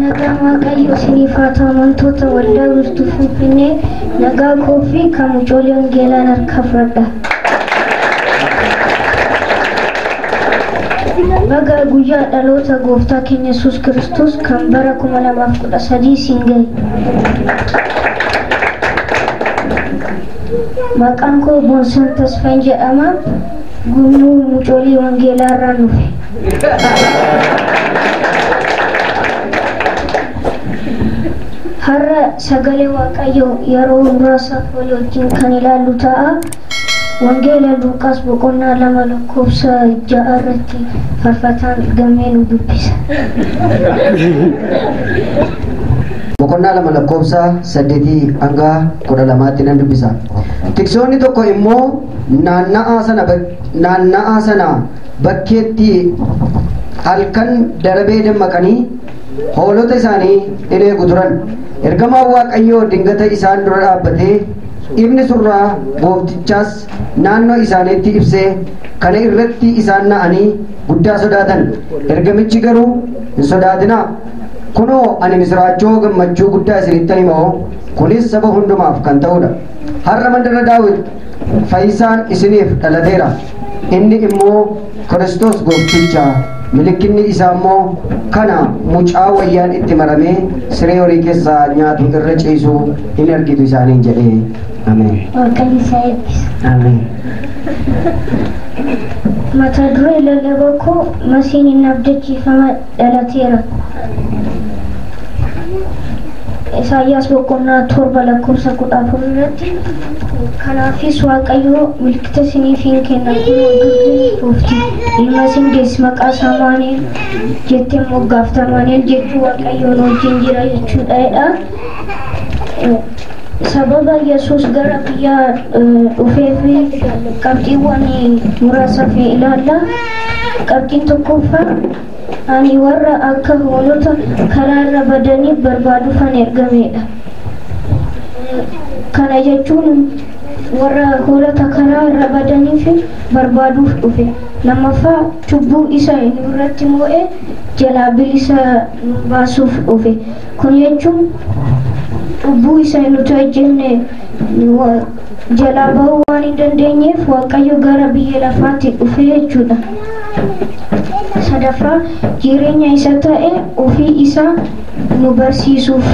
Nagaan Waaqayyoo isiniif haa ta'u amantoota waldaa wiirtuu Finfinnee nagaa koo fi kan mucoolee wangeelaan harkaa fudhadha. Baga guyyaa dhaloota gooftaa keenya Yesuus Kiristoos kan bara 2013 siin gahe. Maqaan koo Boonsan Tasfayin jedhama. Gurmuu mucoolii wangeelaa irraan dhufe. Har'a sagalee Waaqayyoo yeroo muraasa wal wajjin kan ilaallu ta'a. Wangeela Luuqaas boqonnaa 2 lakkoofsa 6 irratti farfataan gammee nu dubbisa. Boqonnaa 2 lakkoofsa 8 hanga 12tti nan dubbisa. Tiksoonni tokko immoo naanna'aa sana naanna'aa sana bakkeetti halkan darabee dammaqanii hoolota isaanii in eegu turan ergamaan waaqayyoo dingata isaan dura dhaabbatee ibni surraa gooftichaas naannoo isaaniitti ibsee kana irratti isaan na'anii guddaa sodaatan ergamichi garuu hin sodaatinaa kunoo ani misiraachoo gammachuu guddaa isinittan himoo kunis saba hundumaaf kan ta'udha har'a mandara daawit Fayyisaan isiniif dhalateera, inni immoo Kiristoos Goofticha, milikkinni isaa immoo kana, mucaa wayyaan itti maramee siree horii keessaa nyaatu irra ciisu in argitu isaaniin jedhe. Ameen. Waaqayyo isaa eebbisa. Ameen. Mata duree lallaba koo masiin hin abdachiifama dhalateera. Isaayyaas boqonnaa 7 lakkoofsa 14 irratti kanaafis Waaqayyo milkita isiniif in kenna kunoo durbiin fuufti ilma isin deessi maqaa isaa Amaanu'el jettee moggaafta Amaanu'el jechuun Waaqayyoon wajjin jira jechuudha jedha. Sababa Yesuus gara biyya dhufeef qabxiiwwan muraasaaf ilaalla. Qabxiin tokkoffaa ani warra akka hoolota karaa irra badaniif barbaaduufan ergameedha. Kana jechuun warra hoolota karaa irra badaniif barbaaduuf dhufe. Lammaffaa cubbuu isa nu irratti moo'e jalaa bilisa nu baasuuf dhufe. Kun jechuun cubbuu isa nuti hojjenne jalaa bahuu waan hin dandeenyeef Waaqayyo gara biyya lafaatti dhufe jechuudha. Sadaffaa jireenya isa ta'e ofii isaa nu barsiisuuf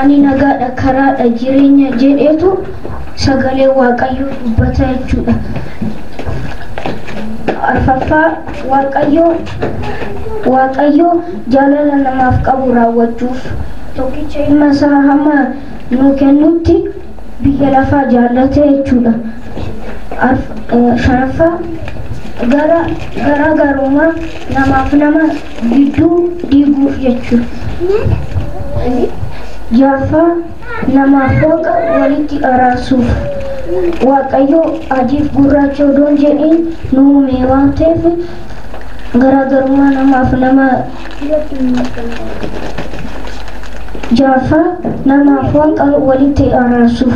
ani nagaadha, karaadha, jireenya jedheetu sagalee Waaqayyoo dubbata jechuudha. Arfaffaa Waaqayyo Waaqayyo Jaalala namaaf qabu raawwachuuf. Tokkicha ilma isaa hamma nuu kennutti biyya lafaa jaallate jechuudha. Arf, shanaffaa, gara, garaa garummaa namaaf nama gidduu diiguuf jechuudha. Jahaffaa, Namaaf Waaqa walitti araarsuuf. Waaqayyo adiif gurraacha odoo hin jedhiin nu uume waan ta'eef garaagarummaa namaaf nama Jaaffaa namaaf Waaqa walitti araarsuuf.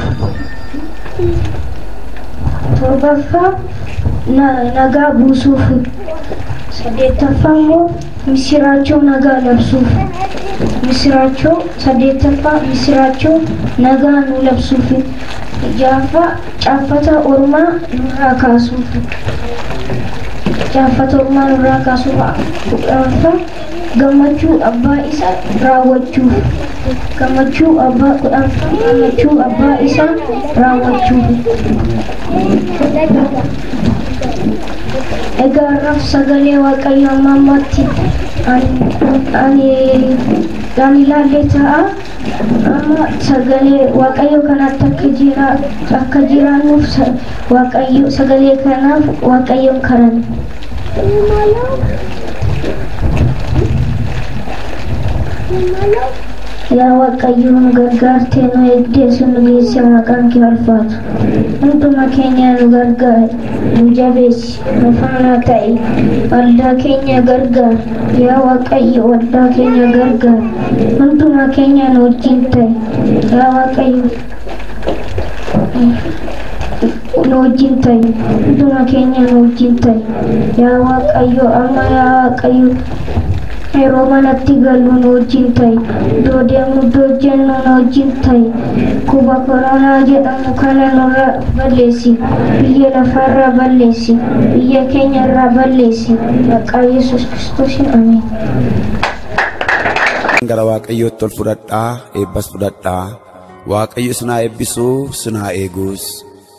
Torbaffaa na- nagaa buusuuf. Saddeettaffaa immoo Missiraachoo Nagaa Labsuuf Missiraachoo 8ffaa Missiraachoo Nagaa Nuu Labsuufi 6ffaa Caaffata Ormaa Nurraa Kaasuufi Caaffata Ormaa Nurraa Kaasuuf 10ffaa Gammachuu Abbaa Isa Raawwachuuf Gammachuu Abbaa 10ffaa Gammachuu Abbaa Isa Raawwachuufi. Egaa har'aaf sagalee Waaqayyo amma ammatti ani dhaan ilaalle ta'a. Amma sagalee Waaqayyo kanatti akka jira akka jiraannuuf Waaqayyo sagalee kanaaf Waaqayyoon kadhanna. Yaa Waaqayyo nu gargaartee nu eegdee sun geesse maqaan kee ulfaatu. Hunduma keenya nu gargaari, nu jabeessi, nu faana ta'i. Waldaa keenya gargaari, yaa Waaqayyo waldaa keenya gargaari. Hunduma keenya nu wajjin ta'i, yaa Waaqayyo nu wajjin ta'i. Hunduma keenya nu wajjin ta'i, yaa Waaqayyo amma yaa Waaqayyo Yeroo manatti gallu nu wajjin ta'i. Iddoo deemnu iddoo hojjennu nu wajjin ta'i. Kuba koronaa jedhamu kana nurra balleessi. Biyya lafarra balleessi. Biyya keenya irraa balleessi. Maqaa Yesuus Kiristoosiin ameen. gara waaqayyootti ol fudhadhaa eebbas fudhadhaa waaqayyo isin haa eebbisu sin haa eegus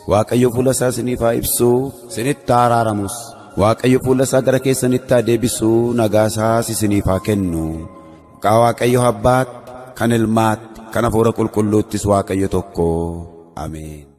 Waaqayyo fuula isaa isiniif haa ibsu, isinitti haa araaramus. Waaqayyo fuula isaa gara keessanitti haa deebisu, nagaa isaas isiniif haa kennu. Maqaa Waaqayyo Abbaatti, kan Ilmaatti, kan Hafuura Qulqulluuttis Waaqayyo tokko. Ameen.